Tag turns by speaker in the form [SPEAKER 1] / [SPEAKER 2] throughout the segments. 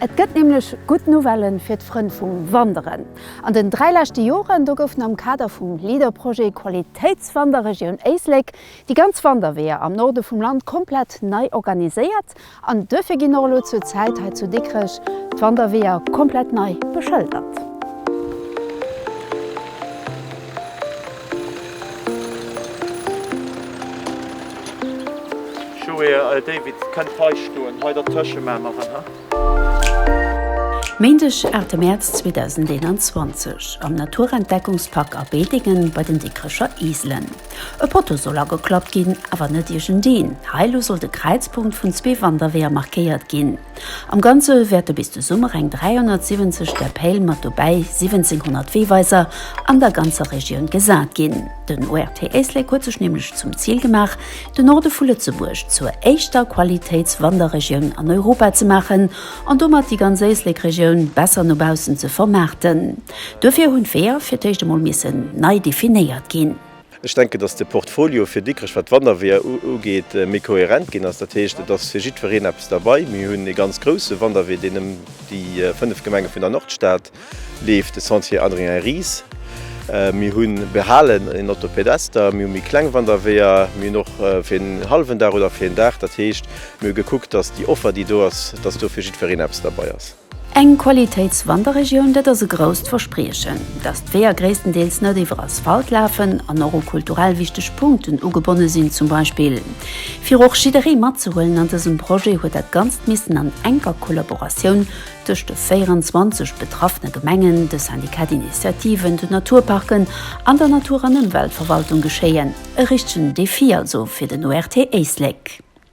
[SPEAKER 1] Et gëtt nämlech gutt Nouvelle fir d'Frënn vum Wanderen. An den dräi leschte Joren do goufen am Kader vum LEADER-Projet Qualitéitswanderregioun Éislek déi ganz Wanderweeër am Norde vum Land komplett nei organiséiert an duerfir ginn och elo zur Zäit hei zu Dikrech d'Wanderweeër komplett nei beschëldert. Méindeg 8 Mäerz 2021 am Naturentdeckungspark A Bedingen bei den Dikrecher Iselen. E Potto soll ageklappt ginn, awer net iergendeen. Hei elo soll de Kräizpunkt vun zwee Wanderweeër markéiert ginn. Am Ganze wäerte bis de Summer eng 370 Deppail mat dobäi 1700 Weeweiser an der ganzer Regioun gesat ginn. Den ORT Éislek huet sech nämlech zum Zil gemaach, de Norde vu Lëtzebuerg zur éischter Qualitéitswanderregioun an Europa ze maachen an domat déi ganz Éislek-Regioun besser no baussen ze vermaarten. Duerfir hunn d'Weeër fir d'éischt emol missen nei definéiert ginn. Ech denken, dass de Portfolio fir Dikrech, wat d'Wanderweeër ugeet, méi kohärent ginn ass. Dat heescht, et ass fir jiddwereen eppes derbei. Mir hunn ee ganz grousse Wanderwee, deen ëm déi fënnef Gemenge vun der Nordstad leeft, de Sentier Adrien-Ries. Mir hu behalen een Orthopedester, mir hu méi kleng Wanderweeër, mir hunn och fir en hallwen Dag oder fir een Dag. Dat heescht, mir hu gekuckt, dass déi Offer, déi do ass, dass do fir jiddwereen eppes derbei ass. Eng Qualitéitswanderregioun, dat ass e grousst Verspriechen. Datt d'Weeër gréisstendeels net iwwer Asphalt lafen an och u kulturell wichteg Punkten ugebonne sinn zum Beispill. Fir och jidderee matzehuelen an dësem Projet huet dat Ganzt missen an enker Kollaboratioun tëscht de 24 betraffene Gemengen, de Syndicat d'Initiative, den Naturparken an der Natur an Ëmweltverwaltung geschéien. E richtegen Defi also fir den ORT Éislek.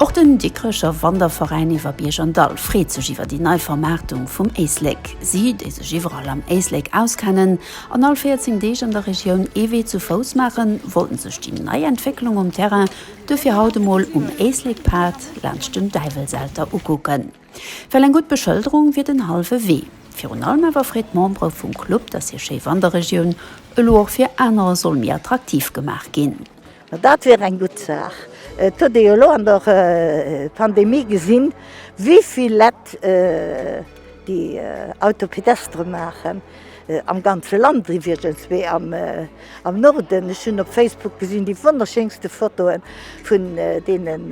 [SPEAKER 1] Och den Dikrecher Wanderveräin iwwer Bierg an Dall freet sech iwwer déi nei Vermaartung vum Éislek. Si, déi sech iwwerall am Éislek auskennen an all 14 Deeg an der Regioun ee Wee zu Fouss maachen, wollten sech déi nei Entwécklung um Terrain duerfir haut emol um Éislekpad laanscht dem Däiwelselter ukucken. Well eng gutt Beschëlderung wier den hallwe Wee. Virun allem awer freet d'Membere vum Club, datt hir schéi Wanderregioun elo och fir anerer soll méi attraktiv gemaach ginn. Ma dat wier eng gutt Saach. Et huet ee jo elo an der Pandemie gesinn, wéivill Lett déi Auto pédestre maachen, am ganze Land iwwregens, mee am Norden. Ech hunn op Facebook gesinn déi wonnerschéinste Fotoe vun deenen.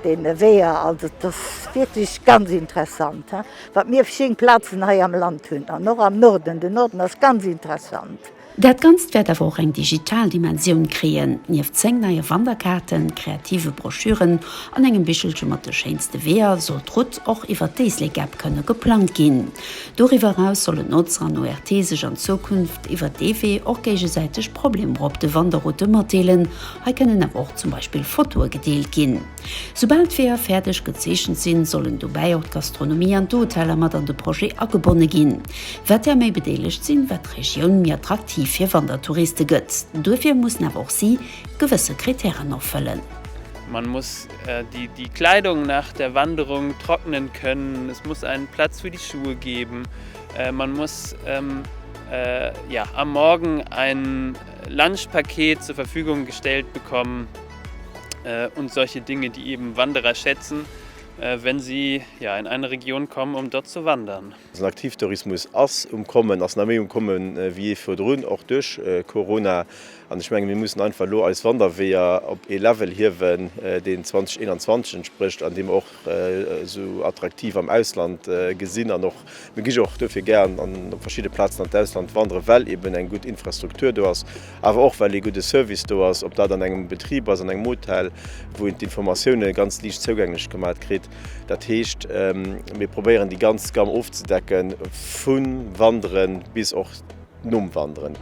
[SPEAKER 1] deene Weeër. Also et ass wierklech ganz interessant, he, wat mir schéin Plazen hei am Land hunn an och am Norden. Den Norden ass ganz interessant. Dat Ganzt wäert awer och eng digital Dimensioun kréien. Nieft 10 neie Wanderkaarten, kreative Broschüren an engem Bichelche mat de schéinste Weeër soll d'Rout och iwwer d'Éislek-App kënne geplangt ginn. Doriwwer eraus sollen Notzer an ORTe sech an Zukunft iwwer dee Wee och géigesäiteg Problemer op de Wanderroute matdeelen Hei kënnen awer och zum Beispill Fotoe gedeelt ginn. Soubal d'Weeër fäerdeg gezeechent sinn, sollen dobäi och d'Gastronomie an d'Hoteller mat an de Projet agebonne ginn. Wat där méi bedeelegt sinn, wat d'Regioun méi attraktiv fir Wandertouriste gëtt. Duerfir mussen awer och si gewësse Kritären erfëllen. Man muss die Kleidung nach der Wanderung trocknen können, es muss einen Platz für die Schuhe geben, man muss am Morgen einen. Lunchpaket zur Verfügung gestellt bekommen und solche Dinge, die eben Wanderer schätzen, wenn sie in eine Region kommen, um dort zu wandern. Den Aktivtourismus ass um Kommen, ass nach méi um Komme wéi jee virdrun, och duerch Corona. An ech mengen, mir mussen einfach elo eis Wanderweeër op ee Level hiewen, deen 2021 entsprécht an deem och esou attraktiv am Ausland gesinn an och mir gi och dofir gären an op verschidde Plazen an d'Ausland wanderen, well eben eng gutt Infrastruktur do ass, awer och well ee gudde Service do ass, ob dat an engem Betrib ass, an engem Hotel, wou een d'Informatioune ganz liicht zougänglech gemat kritt. Dat heescht, mir probéieren déi ganz Gamm ofzedecken, vu Wanderen bis och. nom Wanderen.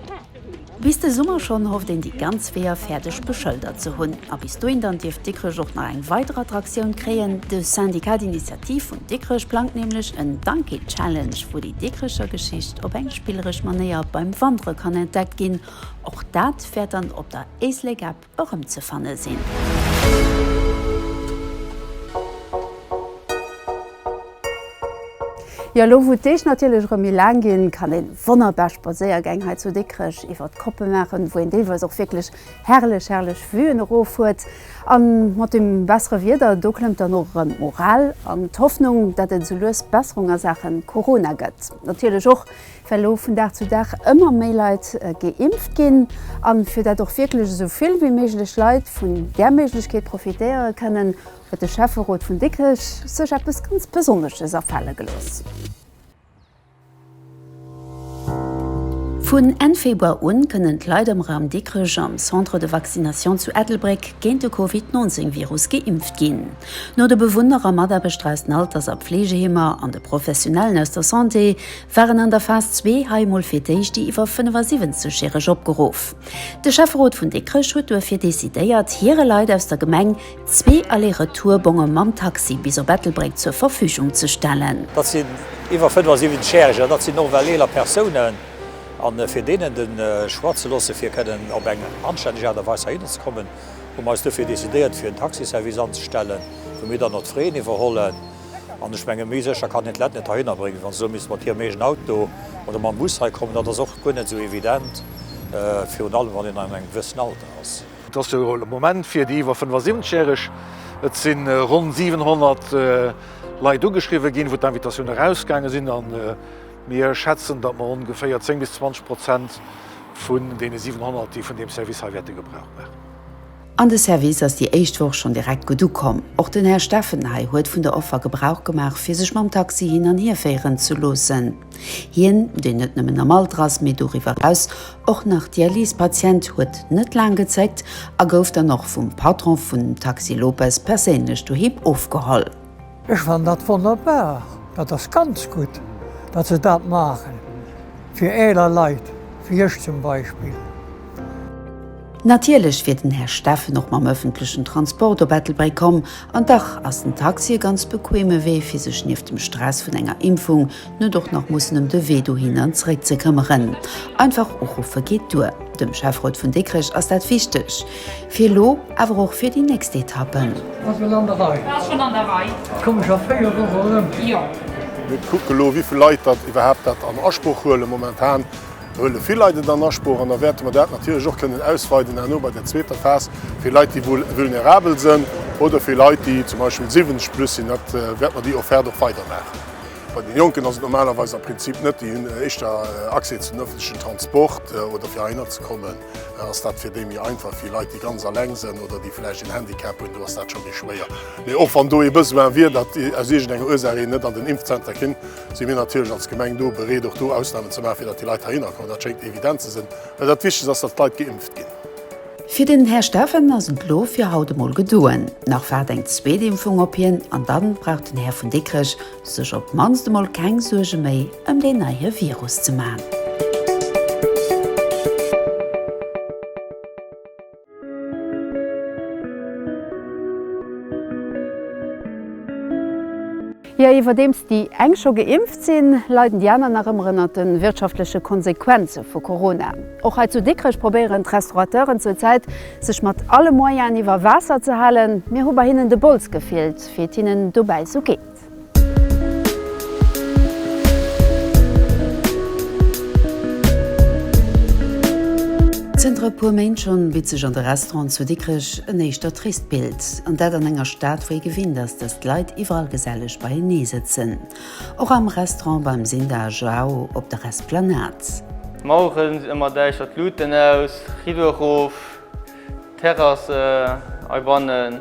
[SPEAKER 1] Bis de Summer schonn hofft een déi ganz Weeër fäerdeg beschëldert ze hunn. A bis dohin dann dierft Dikrech och nach eng weider Attraktioun kréien. De Syndicat d'Initiative vun Dikrech plangt nämlech en Donkey Challenge, wou déi Dikrecher Geschicht op eng spilleresch Manéier beim Wandere kann entdeckt ginn. Och dat wäert dann op der Éislek App erëmzefanne sinn. Jo, elo wou d'Deeg natierlech erëm méi laang ginn, kann een wonnerbar Spadséiergäng hei zu Dikrech iwwert d'Koppe maachen, wou een deelweis och wierklech herrlech, herrlech Vue'en erof huet. An mat dem bessere Wieder, do klëmmt dann och erëm d'Moral an d'Hoffnung, dat et esou lues Besserung a Saachen Corona gëtt. Natierlech och well elo vun Dag zu Dag ëmmer méi Leit geimpft ginn, an fir dat och wierklech esou vill wéi méiglech Leit vun där Méiglechkeet profitéiere kënnen, huet de Schäfferot vun Dikrech sech eppes ganz Besonnesches afale gelooss. Vun Enn Februar u kënnen d'Leit am Raum Dikrech am Centre de Vaccination zu Ettelbréck géint de Covid 19 Virus geimpft ginn. No de Bewunner a Mataarbechter aus den Alters a Pfleegeheemer an de Professionellen aus der Santé waren an der Phas zwee hei mol fir d'éischt déi iwwer 75 järeg opgeruff. De Schäfferot vun Dikrech huet duerfir decidéiert, hire Leit aus der Gemeng zwee Aller-Retour-Bonge mam Taxi bis op Ettelbréck zur Verfügung ze stellen. Dat sinn iwwer 75 järeg an dat sinn och well eeler Persounen. A fir deenen de Choix ze loossen, fir kënnen op eng anstänneg Aart a Weis heihinner ze kommen, hu mer eis duerfir decidéiert, fir en Taxi-Service anzestellen, wou mir dann och d'Fraisen iwwerhollen. An ech menge méi sécher kann een d'Lett net heihinner bréngen, wéi wann se elo misste mat hirem eegenen Auto oder mam Bus hei kommen. Dat ass och guer net esou evident, virun allem wann een an engem gewëssen Alter ass. Et ass jo de Moment fir déi iwwer 75 Järeg. Et si ronn 700 Leit ugeschriwwe ginn, wou d'Invitatioune erausgaange sinn. A mir schätzen, datt mer ongeféier 10 bis 20 Prozent vun deene 700, déi vun deem Service hei wäerte Gebrauch maachen. An de Service ass déi éischt Woch schonn direkt gutt ukomm. Och den Här Steffen hei huet vun der Offer Gebrauch gemaach, fir sech mam Taxi hin an hier féieren ze loossen. Hien, deen net nëmmen am Alter ass, mee doriwwer eraus och nach Dialysepatient, huet net laang gezéckt a gouf dann och vum Patron vun Taxi Lopez perséinlech doheem ofgeholl. Ech fannen dat wonnerbar, dat ass ganz gutt, datt se dat maachen, fir eeler Leit, wéi ech zum Beispill. Natierlech wier den Här Steffen och mam ëffentlechen Transport op Ettelbréck komm, an dach ass den Taxi e ganz bequeme Wee, fir sech nieft dem Stress vun enger Impfung net och nach mussen em de Wee dohin an zréck ze këmmeren. Einfach uruffe geet duer. Dem Schäfrot vun Dikrech ass dat wichteg, fir elo, awer och fir déi nächst Etappen. Mir kucke elo, wéi vill Leit dat iwwerhaapt dat an Asproch huelen. Momentan huele vill Leit et an Asproch, an da wäerte mer dat natierlech och kënnen ausweiden herno bei der zweeter Phas fir Leit, déi vu vulnerabel sinn, oder fir Leit, déi zum Beispill 70 plus sinn. Dat wäerte mer déi Offerte och weidermaachen. Bei den Jonken ass et normalerweis am Prinzip net, déi hunn éischter Accès zu den ëffentlechen Transport oder fir heihinner ze kommen ass dat fir déi méi einfach. Fir Leit déi ganz alleng sënn oder déi vläicht een Handicap hunn, do ass dat scho méi schwéier. Mee och wann do ee Besoin wier, datt aus iergend enger Ursaach een net an den Impfzenter kéim, si mir natierlech als Gemeng do bereet och do Ausnahmen ze maachen, fir datt déi Leit heihinner kommen. Dat schéngt evident ze sënn, well dat Wichtegst ass, datt d'Leit geimpft ginn. Fir den Här Steffen ass et elo fir haut emol gedoen. Nach waart eng zweet Impfung op hien an dann brauch den Här vun Dikrech sech op d'mannst emol keng Suerge méi ëm deen neie Virus ze man. Jo, iwwerdeems déi eng scho geimpft sinn, leiden déi aner nach ëmmer ënnert de wirtschaftleche Konsequenze vu Corona. Och hei zu Dikrech probéieren d'Restaurateuren zur Zäit, sech mat alle Moyen iwwer Waasser ze halen. Mir hu bei hinnen de Bols gefillt, fir et hinnen dobäi sou geet. Zënter e puer Méint schonn bitt sech an de Restauranten zu Dikrech En éischter trist Bild, an dat an enger Stad wou ee gewinnt ass, dass d'Leit iwwerall geselleg beienee sëtzen. Och am Restaurant beim Sinda a Joao op der Esplanade. Maueren emmer däischter, d'Luuten aus, Rideau erof, Terrass hei bannen.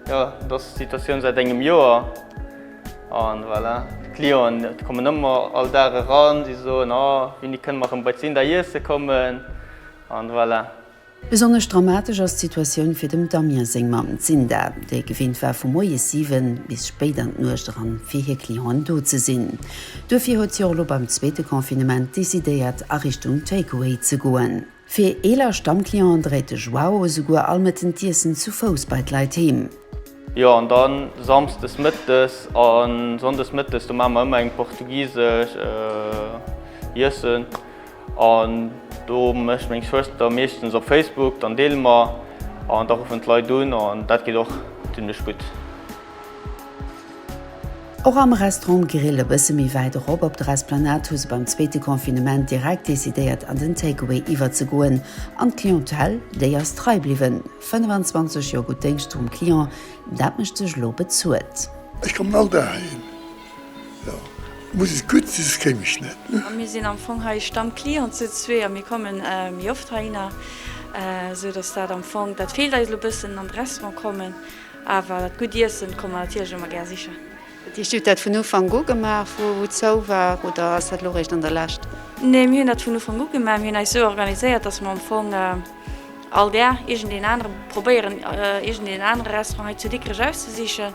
[SPEAKER 1] Jo, et ass d'Situatioun säit engem Joer. An voilà, d'Clienten déi kommen ëmmer all Dag eran, si soen, oh, wéini kënne mer erëm bei d'Sinda iesse kommen? An voilà. Besonnesch dramatesch ass d'Situatioun fir dem Damien seng Mamm, d'Sinda, déi gewinnt war vu moies 7 bis spéit an d'Nuecht eran fir hir Clienten do ze sinn. Duerfir huet si och elo beim zweete Confinement decidéiert a Richtung Takeaway ze goen. Fir eeler Stammclienten dréit de Joao esouguer all Mëtten d'Iessen zu Fouss bei d'Leit heem. Jo an dann Samsdes Mëttes a Sonndes Mëttes, do maache mer ëmmer eng portugisesch Iessen. An do mécht meng Schwëster meeschtens op Facebook, dann deele mer an da ruffen d'Leit un an dat geet och zimmlech gutt. Och am Restaurant Grill e bësse méi wäit erop op der Esplanade hu se beim zweete Confinement direkt decidéiert an den Takeaway iwwerzegoen an d'Clientèle déi ass trei bliwwen. 25 Joer gutt Déngscht vum Client, dat mécht sech elo bezuelt. Ech kommen all Dag heihin. Jo, muss et gutt si, soss kéim ech net. A mir sinn am Fong hei Stammclient zu zwee a mir kommen méi oft heihinner, sou datt dat am Fong, dat feelt eis elo e bëssen, an de Restaurant kommen. Awer dat gutt Iessen komme mer natierlech ëmmer gär sichen. Dat heescht, Dir hutt dat vun Ufank u gemaach, wou et zou war, oder ass dat elo réischt an der Lescht? Nee, mir hunn dat vun Ufank u gemaach. Mir hunn eis esou organiséiert, datt mer am Fong all Dag iergendeen anere probéieren, iergendeen anere Restaurant hei zu Dikrech auszesichen.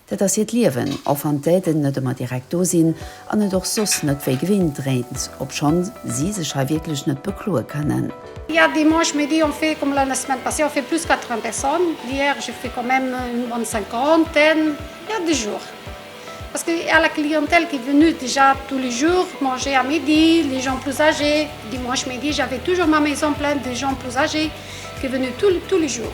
[SPEAKER 1] Dat ass hiert Liewen, och wann d'Aiden net ëmmer direkt do sinn an et och soss net wéi gewinnt dréint, obschonn si sech hei wierklech net bekloe kënnen. Hi a dimanche midi ont fait comme la semaine passée ont fait plus 80 personnes, hier j'ai fait quand même une bonne cinquantaine, ja de jours parce que y a la clientèle qui est venue déjà tous les jours manger à midi, les gens plus âgés, dimanche midi j'avais toujours ma maison pleine de gens plus âgés qui est venu tous les jours.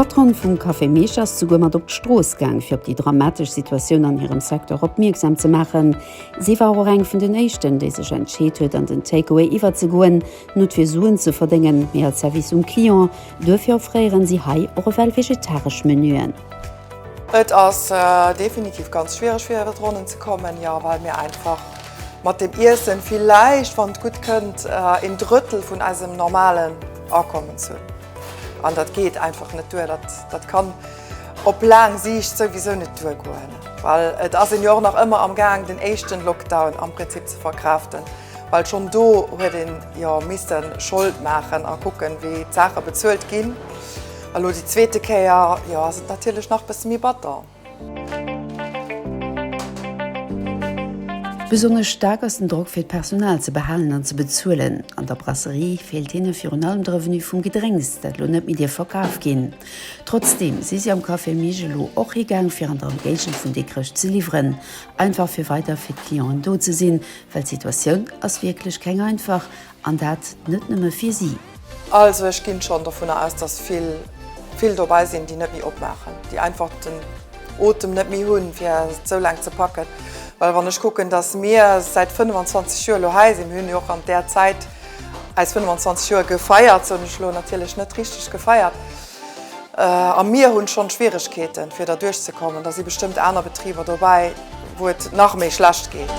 [SPEAKER 1] D'Patronne vum Café Meech ass souguer mat op d'Strooss gaang, fir op déi dramatesch Situatioun an hirem Secteur opmierksam ze maachen. Si war och eng vun den éischten, déi sech entscheet huet, an den Takeaway iwwerzegoen, nut fir Suen ze verdéngen, mee als Service um Client. Duerfir offréieren si hei och ewell vegetaresch Menuen. Et ass definitiv ganz schwiereg fir iwwert d'Ronnen ze kommen, jo, well mir einfach Mat dem Iessen villäicht, wann et gutt kënnt, een Drëttel vun eisem normalen Akommens hunn. An dat geet einfach net duer. Dat kann op laang Siicht souwisou net duergoen. Well et ass een jo och nach ëmmer am Gaang den éischten Lockdown am Prinzip ze verkraaften. Well schonn do huet een jo misste Schold maachen a kucken, wéi d'Saache bezuelt ginn. Elo déi zweete Kéier, jo ass et natierlech nach bësse méi batter. Besonnesch staark ass den Drock fir d'Personal ze behalen an ze bezuelen. An der Brasserie feelt hinne virun allem de Revenu vum Gedrénks, dat elo net méi dierf verkaf ginn. Trotzdeem si si am Café Mig elo och higaang fir an der Emgéigend vun Dikrech ze liwweren, einfach fir weider fir d'Clienten do ze sinn, well d'Situatioun ass wierklech keng einfach An dat net nëmme fir si. Also ech ginn schonn dovunner aus, dass vill, vill dobäi sinn, déi net méi opmaachen, déi einfach den Otem net méi hunn, fir et esou laang ze packen. Well wann ech kucken, dass mir säit 25 Joer elo hei sinn, mir hunn jo och an där Zäit eis 25 Joer gefeiert, soen ech elo natierlech net richteg gefeiert, A mir hunn schonn Schwieregkeeten fir derduerch ze kommen, da si bestëmmt aner Betriber dobäi wou et nach méi schlecht geet.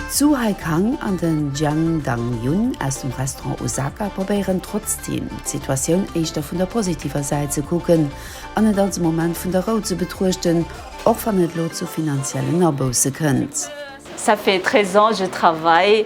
[SPEAKER 1] D'Zhu Haikang an den Jiang Dangyun aus dem Restaurant Osaka probéieren trotzdeem d'Situatioun éischter vun der positiver Säit ze kucken an et als e Moment vun der Rou ze betruechten, och wann et elo zu finanziellen Abousse kënnt. Ça fait 13 ans je travaille.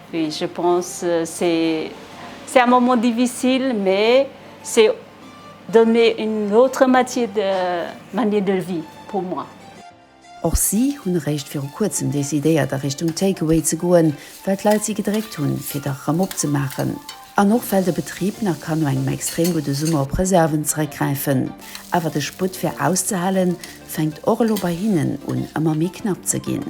[SPEAKER 1] Oui, je pense c'est un moment difficile mais c'est donner une autre matière de manière de vie pour moi. Och si hunn eréischt viru kuerzem decidéiert a Richtung Takeaway ze goen, well d'Leit si gedréckt hunn, fir dach erëm opzemaachen. An och well de Betrib nach kann no engem extrem gudde Summer op Reserven zeréckgräifen. Awer de Sputt fir auszehalen, fänkt och elo bei hinnen un ëmmer méi knapp ze ginn.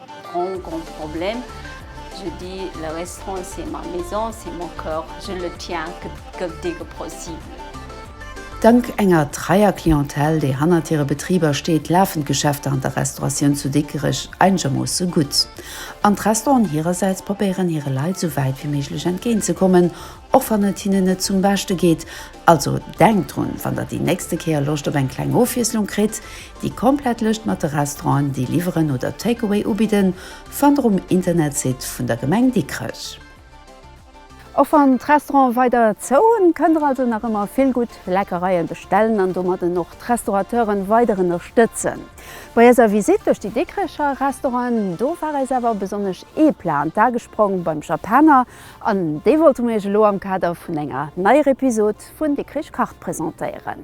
[SPEAKER 1] Grand grand problème, je dis le restaurant c'est ma maison, c'est mon coeur, je le tiens que que dès que possible. Dank enger treier Clientèle, déi hannert hire Betriber steet, lafen d'Geschäfter an der Restauratioun zu Dikrech einegermoosse gutt. An d'Restauranten hirersäits probéieren hire Leit esou wäit wéi méiglech entgéint ze kommen, och wann et hinnen net zum Beschte geet. Also denkt drun, wann der déi nächste Kéier Loscht op eng kleng Ofwiesslung kritt, Déi komplett Lëscht mat de Restauranten, déi liwweren oder Takeaway ubidden, fannt der um Internetsite vun der Gemeng Dikrech. Och wann d'Restaurante weider zou hunn, kënnt der also nach ëmmer vill gutt Leckereien bestellen an domadden och d'Restaurateuren weider ënnerstëtzen. Bei eiser Visite duerch déi Dikrecher Restauranten, do war eis awer besonnesch ee Plat an d'A gesprong, beim Japaner, an dee wollte mer iech elo am Kader vun enger neier Episode vun Dikrech kacht presentéieren.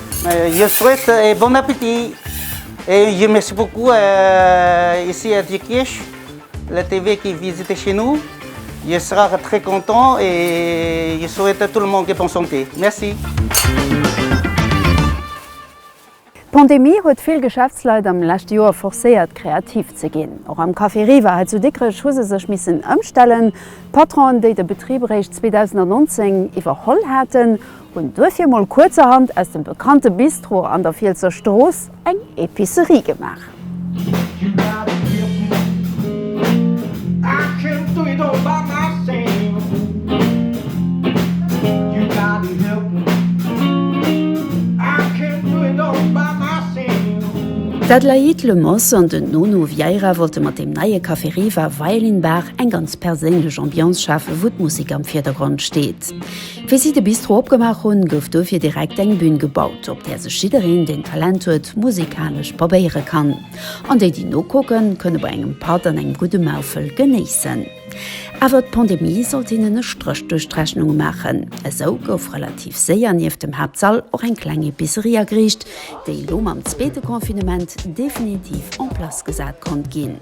[SPEAKER 1] Je souhaite et bon appétit et je merci beaucoup ici à Diekirch la TV qui visite chez nous je sera très content et je souhaite à tout le monde de bonne santé merci. D'Pandemie huet vill Geschäftsleit am leschte Joer forcéiert kreativ ze ginn. Och am Café Riva hei zu Dikrech hu se sech missen ëmstellen. D'Patronen, déi de Betrib eréischt 2019 iwwerholl haten, Hun duerfir mol kuerzerhand aus dem bekannte Bistro an der Fielser Strooss eng Epicerie gemaach. D'Adélaïde Lemos an den Nono Vieira wollte mat deem neie Café Riva Violin Bar eng ganz perséinlech Ambiance schafen, wou d'Musek am Virdergrond steet. Wéi si de Bistro opgemaach hunn, gouf dofir direkt eng Bün gebaut, op där sech jiddereen, deen Talent huet, musikalesch probéiere kann. An déi, déi nokucken, kënne bei engem Patt an engem gudde Maufel genéissen. Awer d'Pandemie sollt hinnen e Stréch duerch d'Rechnung maachen. Esou gouf relativ séier nieft dem Haaptsall och eng kleng Epicerie ageriicht, déi elo mam zweete Confinement definitiv en place gesat konnt ginn.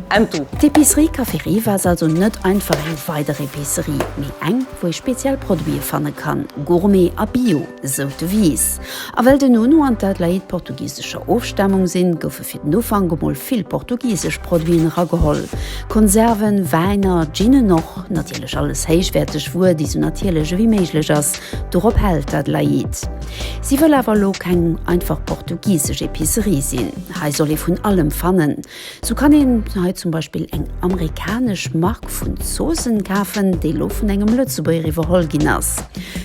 [SPEAKER 1] Entu. D'Epicerie Café Rive ass also net einfach eng weider Epicerie, mee eng, wou ee speziell Produite fanne kann, Gourmet a Bio, sou d'Devise. A well de Nuno an d'Adelaïde portugisescher Ofstamung sinn, goufe fir den Ufank emol vill portugisesch Produiten erageholl, Konserven, Wäiner, Ginen och, natierlech alles héichwäerteg Wuer, déi sou natierlech ewéi méiglech ass. Dorop hält d'Adelaïde. Si wëll awer elo keng einfach portugisesch Epicerie sinn, hei soll ee vun allem fannen, Sou kann een hei zum Beispill eng amerikanesch Mark vun Zoossen kafen, déi lo vun engem Lëtzebuerger iwwerholl ginn ass.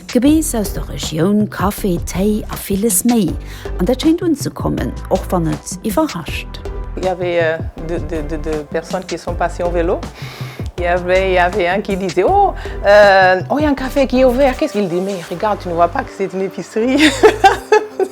[SPEAKER 1] Gebeess aus der Regioun, Kaffi, Téi a villes méi. An dat schéint unzekommen, och wann et iwwerrascht. Il y avait de personnes qui sont passées en vélo, il y avait un qui disait oh, oh il y a un café qui est ouvert, qu'est ce qu'il dit mais regarde, tu ne vois pas que c'est une épicerie?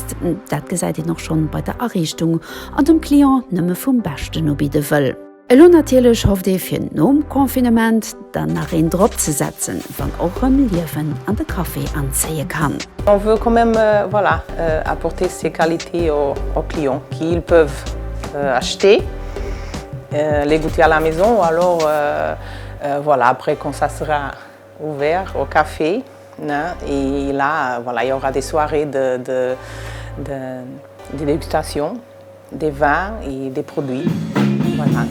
[SPEAKER 1] Dienst, dat gesäit een och schonn bei der Ariichtung, an dem Client nëmme vum Beschten ubidde wëll. Elo natierlech hofft ee fir nom Confinement dann nach een drop ze setzen, wann och rëm Liewen an de Café anzéie kann. On veut quand même voilà apporter ces qualités aux clients qui ils peuvent acheter les goûter à la maison ou alors voilà après quand ça sera. Ouvert au café ne et là voilà il y aura des soirées de de de de dégustation des vins et des produits voilà.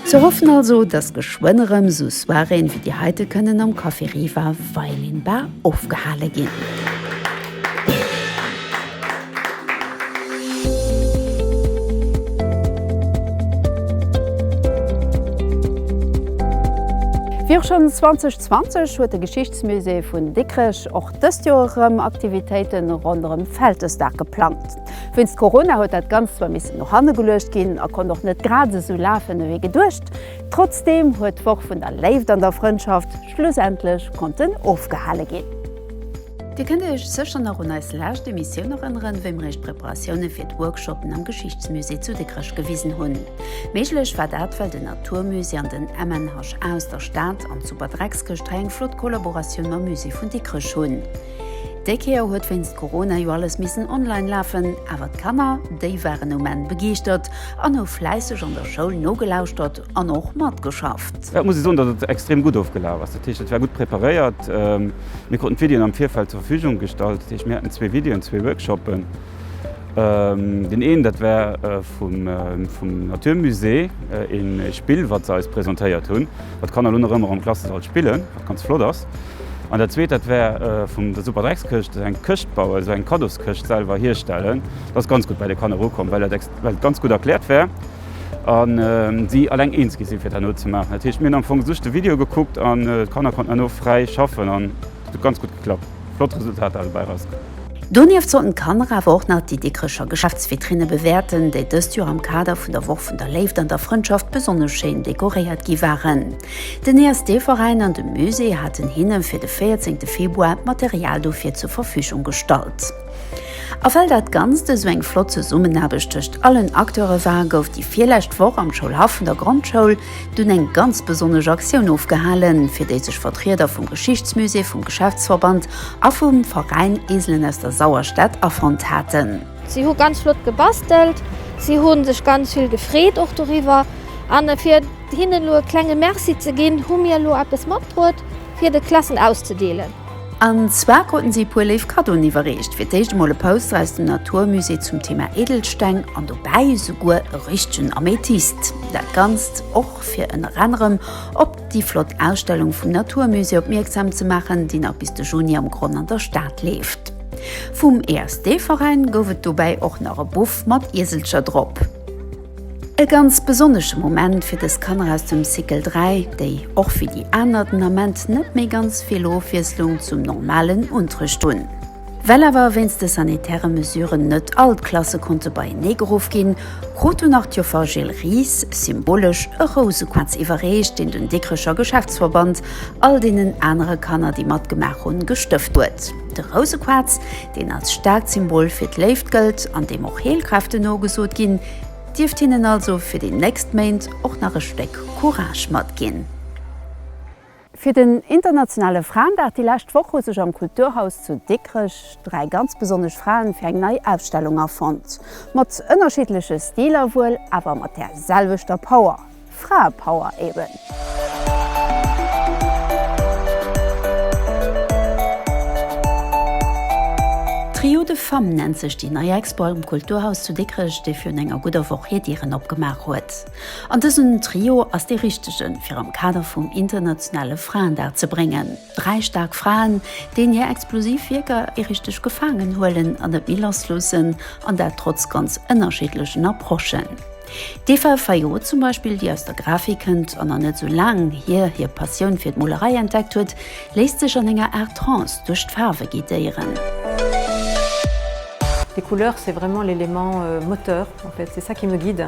[SPEAKER 1] Ze hoffen also, dass geschwënn erëm esou Soiréen wéi déi heite kënnen am Café Riva Veilinbar ofgehale ginn. Wéi och schonn 2020 huet de Geschichtsmusée vun Dikrech och dëst Joer erëm Aktivitéite ronderëm Vältesdag geplangt. Wéinst Corona huet dat Ganzt zwar missen no hanne geluecht ginn a konnt och net grad esou lafen ewéi geduecht. Trotzdeem huet d'Woch vun der Léift an der Frëndschaft schlussendlech konnten ofgehale ginn. Dir kënnt Iech sécher nach un eis lescht Emissioun erënneren, wéi mer Iech d'Preparatioune fir d'Workshoppen am Geschichtsmusée zu Dikrech gewisen hunn. Méiglech war dat, well den Naturmusée an den MNHA aus der Stad an d'Super Dreckskëscht hei eng flott Kollaboratioun mam Musée vun Dikrech hunn. Déi Kéier huet wéinst Corona jo alles missen online lafen, awer d'Kanner, déi waren um Enn begeeschtert an hu fläisseg an der Schoul nogelauschtert, An och matgeschafft. Jo, et muss ee soen, datt et extrem gutt ofgelaf ass. Dat heescht, et war gutt preparéiert. Mir kruten d'Videoen am Virfeld zur Verfügung gestallt. Dat heescht, mir haten zwee Videoen, zwee Workshoppen. Deen een, dat war vum Natur Musée ee Spill, wat se eis presentéiert hunn, wat d'Kanner elo nach ëmmer am Klassesall spillen, wat ganz flott ass. An dat zweet, dat war vun der Superdreckskëscht, esou eng Këscht bauen, esou eng Kaddoskëscht selwer hierstellen. Dat ass ganz gutt bei de Kanner ukomm, well et ganz gutt erkläert war. a si alleng eens gi sinn, fir et herno ze maachen. Dat heescht, mir hunn am Fong just de Video gekuckt an d'Kanner konnten herno fräi schaffen an et huet ganz gutt geklappt. Flott Resultater dobäi erauskomm. Donieft sollten d'Kanner awer och nach déi Dikrecher Geschäftsvitrine bewäerten, déi dëst Joer am Kader vun der Woch vun der Léift an der Frëndschaft besonnesch schéin dekoréiert gi waren. Den ESD-Veräin an de Musée haten hinne fir de véierzéngte Februar d'Material dofir zur Verfügung gestallt. A well dat Ganzt esou eng flott Zesummenaarbecht tëscht allen Acteure war, gouf déi virlescht Woch am Schoulhaff vun der Grondschoul dunn eng ganz besonnesch Aktioun ofgehalen, fir déi sech Vertrieder vum Geschichtsmusée, vum Geschäftsverband a vum Veräin Eselen aus der Sauerstad afonnt haten. Si hu ganz flott gebastelt, si hu sech ganz vill gefreet och doriwwer. A fir hinnen elo e klenge Merci ze ginn, hu mir elo eppes matbruet, fir de Klassen auszedeelen. An zwar kruten si e puer léif Kaddoen iwwerreecht, fir d'éischt emol e Poster aus dem Natur Musée zum Thema Edelsteng an dobäi esouguer e richtegen Amethyst. Dat Ganzt och fir ënner anerem op déi flott Ausstellung vum Natur Musée opmierksam ze maachen, déi nach bis de Juni am Gronn an der Stad leeft. Vum ESD-Veräin gouf et dobäi och nach e Buff mat Ieselcher drop. E ganz besonnesche Moment fir dës Kanner aus dem Cycle 3, déi och wéi déi aner den Ament net méi ganz vill Ofwiesslung zum normalen Unterrecht hunn. Well awer wéinst de sanitäre Mesuren net all d'Klasse konnte beienee geruff ginn, krut den Artiofer Gilles Ries symbolesch e Rousequarz iwwerreecht, deen den Dikrecher Geschäftsverband all deenen anere Kanner, déi matgemaach hunn, gestëft huet. De Rousequaarz, deen als staarkt Symbol fir d'Léift gëllt an deem och Heelkräften nogesot ginn, dierft hinnen also fir déi nächst Méint och nach e Stéck Courage matginn. Fir den internationale Fraendag déi lescht Woch hu sech am Kulturhaus zu Dikrech dräi ganz besonnesch Fraen fir eng nei Ausstellung afonnt. Mat ënnerschiddleche Stiler wuel, awer mat där selwechter Power. Fraepower eben. Trio de femmes nennt sech déi nei Expo am Kulturhaus zu Dikrech, déi virun enger gudder Woch hir Dieren opgemaach huet. An dësen Trio ass dee richtegen, fir am Kader vum internationale Fraendag ze bréngen. Dräi staark Fraen, deen hir explosiv Wierker ee richteg gefaangen huelen an net méi lass loossen, an dat trotz ganz ënnerschiddlechen Approchen. D'Eva Fayot zum Beispill, déi aus der Grafik kënnt an an net esou laang hier hir Passioun fir d'Molerei entdeckt huet, léisst sech an enger Aart Trance duerch d'Faarwe guidéieren. Les couleurs c'est vraiment l'élément moteur en fait, c'est ça qui me guide.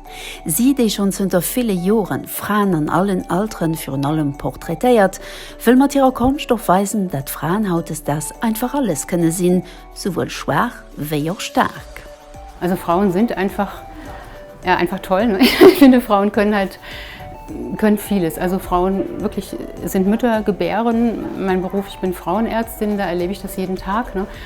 [SPEAKER 1] Si, déi schonn zënter ville Jore Fraen an allen Altere virun allem portraitéiert, wëll mat hirer Konscht och weisen, dat Fraen hautdesdaags einfach alles kënne sinn, souwuel schwaach wéi och staark. Also Frauen sind einfach, ja einfach toll ne, ich finde Frauen können halt, können vieles, also Frauen wirklich sind Mütter, gebären, mein Beruf, ich bin Frauenärztin, da erlebe ich das jeden Tag ne.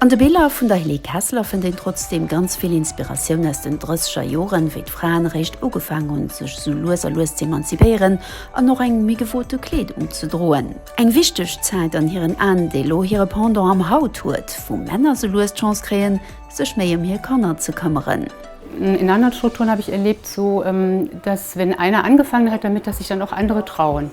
[SPEAKER 1] An de Biller vun der Helene Kessler fënnt een trotzdeem ganz vill Inspiratioun aus den drësseger Joren, wéi d'Fraen eréischt ugefaang hunn, sech esou lues a lues z'emanzipéieren an och eng méi gewote Kleedung ze droen. Eng wichteg Zäit an hiren Aen, déi elo hire Pendant am Haut huet, wou Männer esou lues d'Chance kréien, sech méi ëm hir Kanner ze këmmeren. In anderen Strukturen habe ich erlebt, so dass, wenn einer angefangen hat damit, dass sich dann och andere trauen.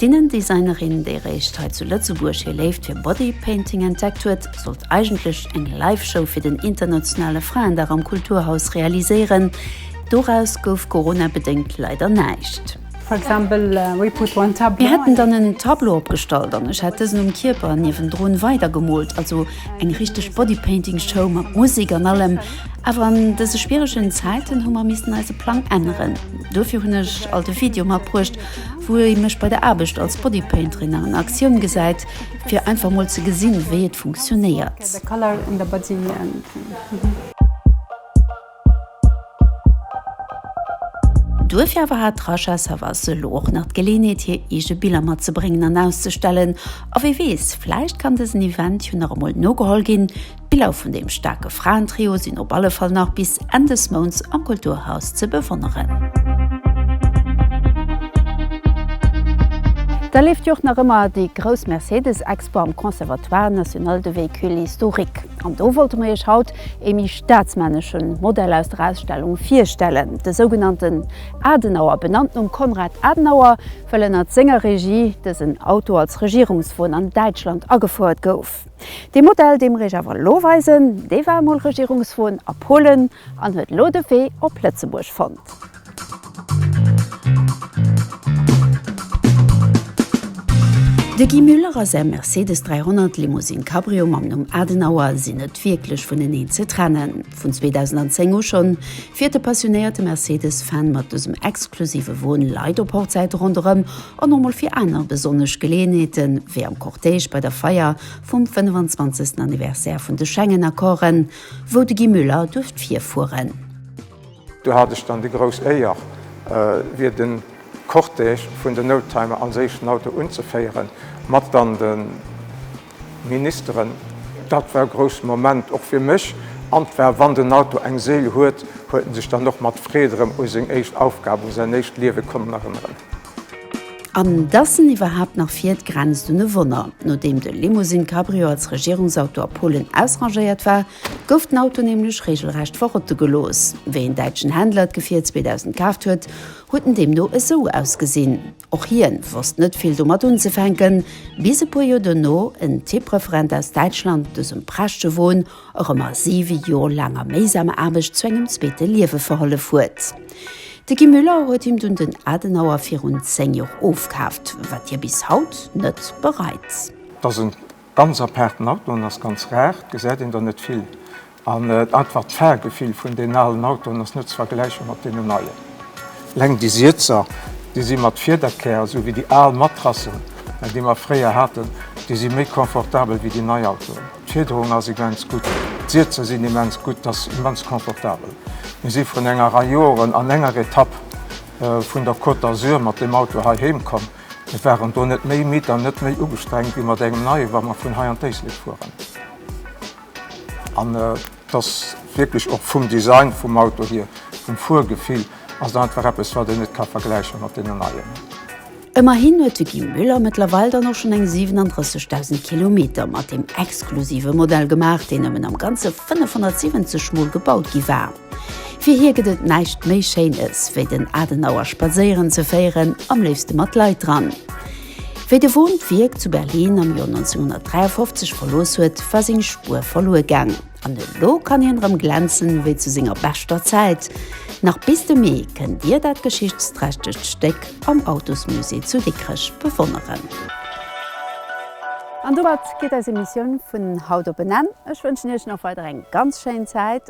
[SPEAKER 1] D'Innendesignerin, déi eréischt hei zu Lëtzebuerg hir Léift fir Bodypainting entdeckt huet, sollt eigentlech eng Live-Show fir den internationale Fraendag am Kulturhaus realiséieren. Doraus gouf coronabedéngt leider näischt. Mir hätten dann en Tableau opgestallt an ech hätt dësen um Kierper niewendrun weidergemoolt, also eng richteg Bodypainting-Show mat Musek an allem. Awer an dëse schwieregen Zäiten hu mer missten eise Plang änneren. Dofir hunn ech alt e Video matbruecht, wou ee mech bei der Aarbecht als Bodypainterin an Aktioun gesäit, fir einfach mol ze gesinn, wéi et funktionéiert. Duerfir awer hat d'Rasha Savas elo och nach d'Geleeënheet, hir eege Biller matzebréngen an auszestellen. A wee weess, vläicht kann dësen Event jo nach emol nogeholl ginn. D'Biller vun deem staarke Fraentrio sinn op alle Fall nach bis Enn des Mounts am Kulturhaus ze bewonneren. Da leeft jo och nach ëmmer déi grouss Mercedes-Expo am Conservatoire National de Véhicules Historiques. An do wollte mer Iech haut ee méi staatsmännesche Modell aus der Ausstellung virstellen, de sougenannten Adenauer, benannt nom Konrad Adenauer, well ënnert senger Regie dësen Auto als Regierungswon an Däitschland agefouert gouf. Dee Modell, dee mer Iech awer elo weisen, dee war emol Regierungswon a Polen an huet elo de Wee op Lëtzebuerg fonnt. De Guy Muller a säi Mercedes 300 Limousine Cabrio mam Numm Adenauer sinn net wierklech vuneneen ze trennen. Vun 2010 u schonn fiert de passionéierte Mercedes-Fan mat dësem exklusive Won Leit op Hochzäite ronderëm an och mol fir aner besonnesch Geleeënheete wéi am Cortège bei der Feier vum 25. Anniversaire vun de Schengen-Accorden, wou de Guy Müller duerft virfueren. Do hat ech dann déi grouss Éier, wier de Cortège vun den Oldtimer an séischen Auto unzeféieren, mat dann de Ministeren, Dat war e grousse Moment, och fir mech. An et war, wann den Auto eng Séil huet, huet en sech dann och mat Freed erëm u seng éischt Aufgab, u säin éischt Liewe konnen erënneren. An dass en iwwerhaapt nach fiert, grenzt un e Wonner. Nodeem de Limousine Cabrio als Regierungsauto a Polen ausrangéiert war, gouf den Auto nämlech reegelrecht verrotte gelooss. Wéi en däitschen Händler d'Gefier 2000 kaaft huet, huet en deemno esou ausgesinn. Och hien wosst net vill domat unzefänken, bis e puer Joer dono en Tippreferent aus Däitschland dësem prächtege Won erëm a 7 Joer laanger méisamer Aarbecht zu engem zweete Liewe verhollef huet. De Guy Müller huet him dunn den Adenauer virun 10 Joer ofkaaft, wat hie bis haut net bereit. Ganz apaarten Autoen ass ganz rar, gesäit een der net vill an einfach d'Fahrgefill vun den alen Autoen ass net ze vergläiche mat deenen neien. Eleng déi Sietzer déi si mat Fiederkär esou wéi déi al Matrassen déi mer fréier haten, déi si méi confortabel wéi déi nei Autoen. D'Fiederung ass immens gutt, d'Sietzer sinn immens gutt, et ass immens confortabel. Mir si vrun enger Rei Joeren an enger Etapp vun der Côte d'Azur mat deem Auto hei heem komm. Mir waren do net méi midd an net méi ugestrengt wéi mat engem Neie wa mer vun hei an d'Éislek fueren. An et ass wierklech och vum Design vum Auto hier, vum Fuergefill ass et einfach eppes wat een net ka vergläiche mat deenen Neien. Ëmmerhin huet de Guy Muller mëttlerweil dann och schonn eng 37.000 Kilometer mat deem exklusive Modell gemaach, deen nëmmen am Ganze 570 mol gebaut gi war. Fir hie gëtt et näischt méi Schéines, wéi den Adenauer spadséieren ze féieren, am léifste mat Leit dran. Wéi de Woon d'Wierk zu Berlin am Joer 1953 verlooss huet, war seng Spuer verluer gaang. An elo kann hien erëm glänzen, wéi zu senger beschter Zäit. Nach bis de Mee kënnt Dir dat geschichtsträchtegt Stéck am Autosmusée zu Dikrech bewonneren. An domat geet eis Emissioun vun haut op en Enn. Ech wënschen Iech nach weider eng ganz schéin Zäit.